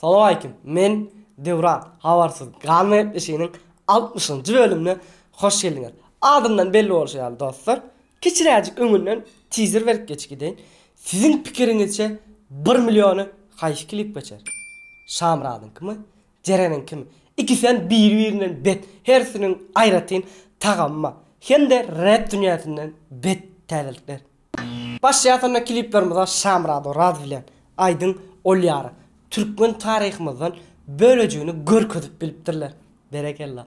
Salowaleýkim men Döwran habarsyz galma gepleşiginiň altmyşynjy bölümine hoş geldiňiz. Adyndan belli bolşy ýaly dostlar kiçiräjik öňünden tizer berip geçip gideýin. Siziň pikiriňizçe bir milliony haýsy klip geçer? Şamyradyňkymy? Jereniň kim? Ikisem biri-birinden bet, hersiniň aýratyn tagamy bar. Hem-de rep dünýäsinden bet täzelikler. Başlaýasynda kliplerimize Şamyrat Oraz bilen Aýdyň Olýarow türkmen taryhymyzdan bölejigini görkezip bilipdirler. Berekella.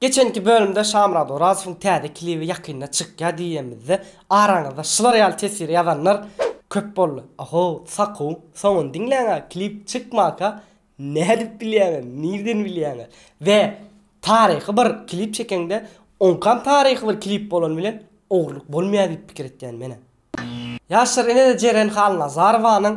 Geçenki bölümde Şamyrat Orazowyň täze klibi ýakynda çykýar diýýenmizde araňyzda şular ýaly teswiri ýazanlar köp boldy. Oho, sakow, soňuny diňläňä klip çykmaka nädip bilýäňiz, nirden bilýäňiz? We taryhy bir klip çekeňde oňkam taryhy bir klip bolany bilen ogurlyk bolmaýar diýip pikir etýän menä. Ýaşlar ine-de Jeren Halnazarowanyň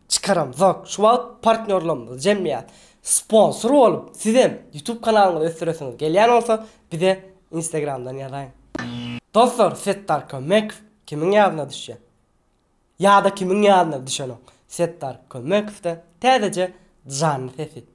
Çykaramzok. Şu wagt partnýorlarymyz, jemgyýet, sponsor bolup, sizem YouTube kanalyňyzy ösdüresiňiz gelýän bolsa, bize Instagramdan ýazaň. Dostlar Setdar Kömmekow kimiň ýadyna düşýär? Ýa-da kimiň ýadyna düşenok Setdar Kömmekow-da täzeje janly sesi.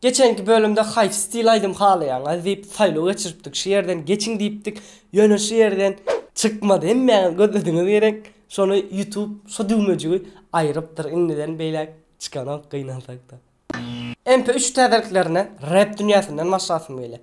Geçenki bölümde haýsy stil aýdym halaýaňyz diýip saýlaw geçiripdik şu ýerden geçiň diýipdik ýöne şu ýerden çykmady hemmäňiz gözlediňiz gerek şony ýutub şu düwmejigi aýrypdyr indiden beýläk çykanok gynansakda. MP3 täzeliklerine rep dünýäsinden başlasym gelýär.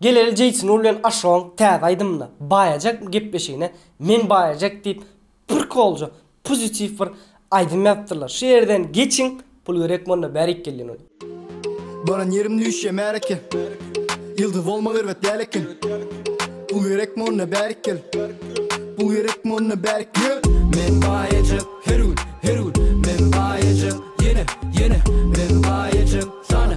Geleli Jeýtnur bilen Aşogyň täze aýdymynda Baýajak gepleşigine Men Baýajak diýip prkolja, pozitiw bir aýdym ýazypdyrlar. Şu ýerden geçiň, pul gerekmi onda bärik gelýän ol. Baran ýerim düýşýä märeke Ýyldyz bolmak erbet däl eken Pul gerekmi onda bärik gel Pul gerekmi onda bärik gel Men baýajak her gün, her gün Men baýajak ýene, ýene Men baýajak sana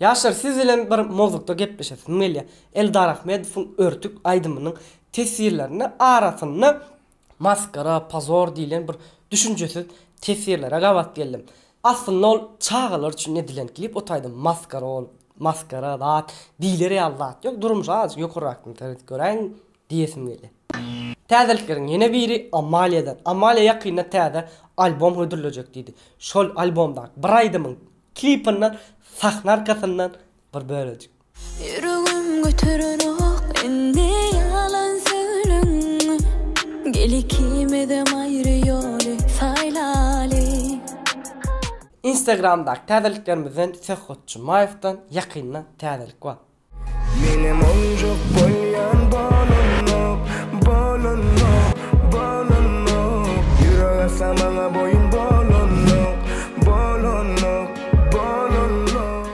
Ýaşlar siz bilen bir mowzukda gepleşesim gelýä. Eldar Ahmedowyň Örtük aýdymynyň teswirlerinde arasynda maskara, pozor diýlen bir düşünjesiz teswirlere gabat geldim. Aslynda ol çagalar üçin edilen klip ot aýdym maskara ol maskara zat diýiler ýaly zat ýok durmuşa azajyk ýokarrakdan seret göräýiň Diýesim gelýär. Täzelikleriň ýene biri Amaliýadan. Amaliýa ýakynda täze albom hödürlejek diýdi. Şol albomdaky bir aýdymyň klipindan sahna arkasyndan bir bölejik. Ýüregim göterenok indi ýalan söýlüň Gel ikimizem aýry ýoly saýlaly. Instagramdaky täzeliklerimizden Söhbet Jumaýewden ýakynda täzelik bar. Menem onjuk goýýan bolanok, bolanok, bolanok, Ýürek atsa maňa boýun bolanok, bolanok, bolanok.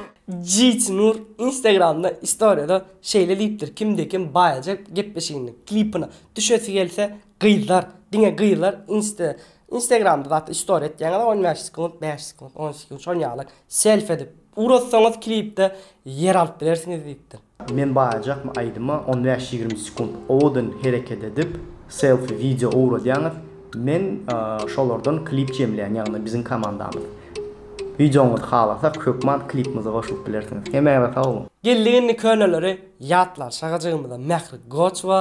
Jeýt Nur Instagramda istoriýada şeýle diýipdir, Kimde-kim baýajak gepleşiginiň klipine düşesi gelse, Gyzlar diňe gyzlar insta instagramda zatda story etýäňizä on bäş sekunt bäş sekunt on sekunt şon ýaly selfi edip ugrotsaňyz klipde ýer alyp bilersiňiz diýipdir. Men baýjakmy aýdyma on bäş ýigrimi sekunt owadan hereket edip selfi wideo ugradýaňyz men şolardan klip jemleýän ýagny biziň komandamyz wideoňyzy halasak hökman klipimize goşulyp bilersiňiz hemäňize sag boluň. Geldik indi köneleri ýatlar şagajygymyza Mähri Goçowa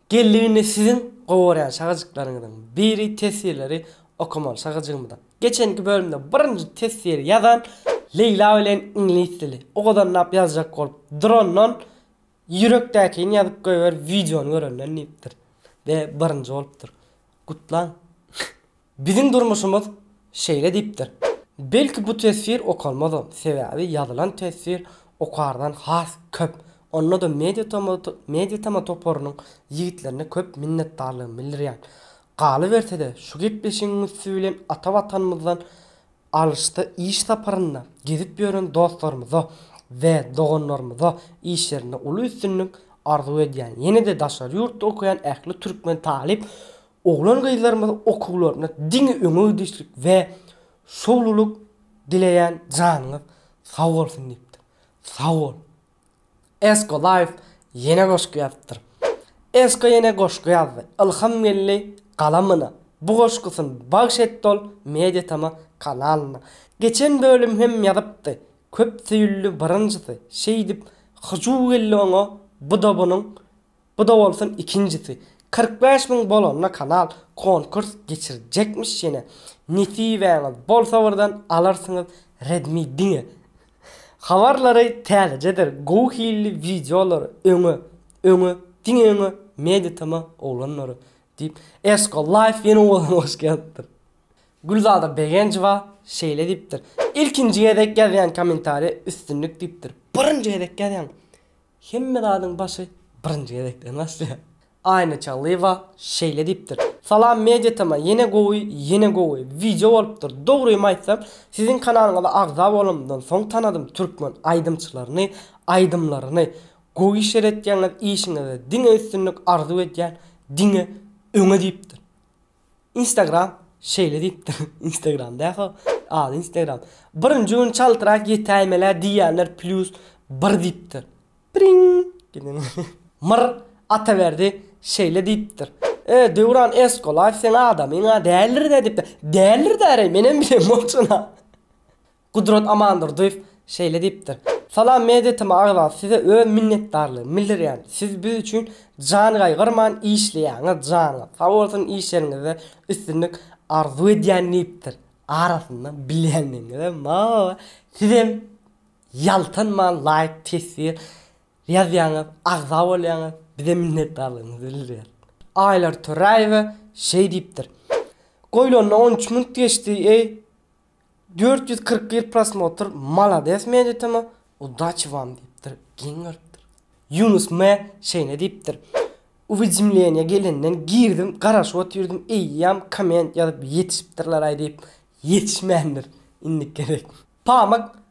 Geljeginde siziň gowarýan şagajyklaryňyzyň biri teswirleri okamaly şagajygymyza. Geçenki bölümde birinji teswiri ýazan Leýla bilen iňlis dili. Ogadanlap ýazjak bolup durandan ýürekdäkini ýazyp goýber wideony görenden diýipdir. Be birinji bolupdyr. Gutlaň. Biziň durmuşymyz şeýle diýipdir. Belki bu teswir okalmazam, sebäbi ýazylan teswir okardan has köp. Onda-da Mediatema toparynyň ýigitlerine köp minnetdarlygymy bildirýän. Galyberse-de, şu gepleşigiň üsti bilen ata Watanymyzdan alysda iş saparynda gezip ýören dostlarymyza we doganlarymyza işlerinde uly üstünlik arzuw edýän. Ýene-de daşary ýurtda okaýan ähli türkmen talyp Oglan-gyzlarymyza okuwlarynda diňe öňe gidişlik we şowlulyk dileýän janyňyz sag bolsun diýipdir. Sag bol. Esko life ýene goşgy ýazypdyr. Esko ýene goşgy ýazdy. Ylham geldi galamyna. Bu goşgusyn bagş etdi ol Mediatama kanalyna. Geçen bölüm hem ýazypdy. Köp söýüldi birinjisi. Şeýdip hyjuw geldi oňa bu dobynyň Bu-da bolsun ikinjisi. Kyrk bäş müň bolanda kanal konkurs geçirjekmiş ýene. Nesibäňiz bolsa birden alarsyňyz Redmi diňe. Habarlary täzejedir gowy hilli wideolary öňe öňe diňe öňe Mediatm-a oglanlary diýip Esko Life ýene owadan goşgy ýazypdyr. Gülzada Begenjowa şeýle diýipdir, Ilkinji gezek ýazýan kommentariýa üstünlik diýipdir. Birinji gezek ýazýan. Hemme zadyň başy birinji gezekden başlaýar. Aýna Çallyýewa şeýle diýipdir. Salam Media Tama ýene gowy ýene gowy wideo bolupdyr dogrymy aýtsam siziň kanalyňyza agza bolanymdan soň tanadym türkmen aýdymçylaryny aýdymlaryny gowy işler etýäňiz işiňizde diňe üstünlik arzuw edýän diňe öňe diýipdir Instagram şeýle diýipdir, Instagram dähoo, ady Instagram. Birinji gün çaltrak ýetäýmelä diýýänler plýus bir diýipdir. Priň! Gidin. Myr Ataberdi şeýle diýipdir. E, Döwran Eskolaýew seň adamyň-a däldir-dä diýipdir. Däldir-dä, reý, menem bilemok şony-a. Gudrat Amandurdyýew şeýle diýipdir, Salam Media TM agza size öz minnetdarlygymy bildirýän, siz biz üçin jan gaýgyrman işleýäňiz, janyňyz sag bolsun işleriňizde üstünlik arzuw edýän diýipdir, arasynda bilýänligiňizem bar, sizem ýaltanman laýk teswir ýazýaňyz, agza bolýaňyz, bizem minnetdarlygymyzy bildirýäs. Aýlar Töräýewa şeý diýipdir, Goýlanyna on üç minut geçdi eý, Dört ýüz kyrk bir prosmotr Malades Meditama udaçi wam diýipdir, geň görüpdir. Ýunus M. şeýne diýipdir, Uwidimleniýa gelenden girdim, garaşyp otyrdim, eýýäm komment ýazyp ýetişipdirleraý diýip, ýetişmändir. Indiki gezek. Pamak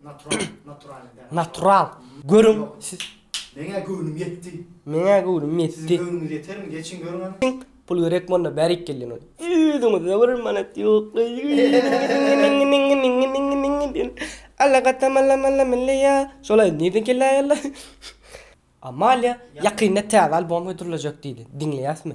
Natural, natural däl. Natural. Görüň, siz. Meňä göwnüm ýetdi. Meňä göwnüm ýetdi. Siziň göwnüňiz ýetermi? Geçiň görüň hany. Pul gerek monda bärik geldi ýöne. Özüňizde bir manat ýok. Alla gatam alla malla milleýa. Şolaý nirden kelli aýallar? Amalia ýakynda täze albom hödürlejek diýdi. Diňleýäsmi?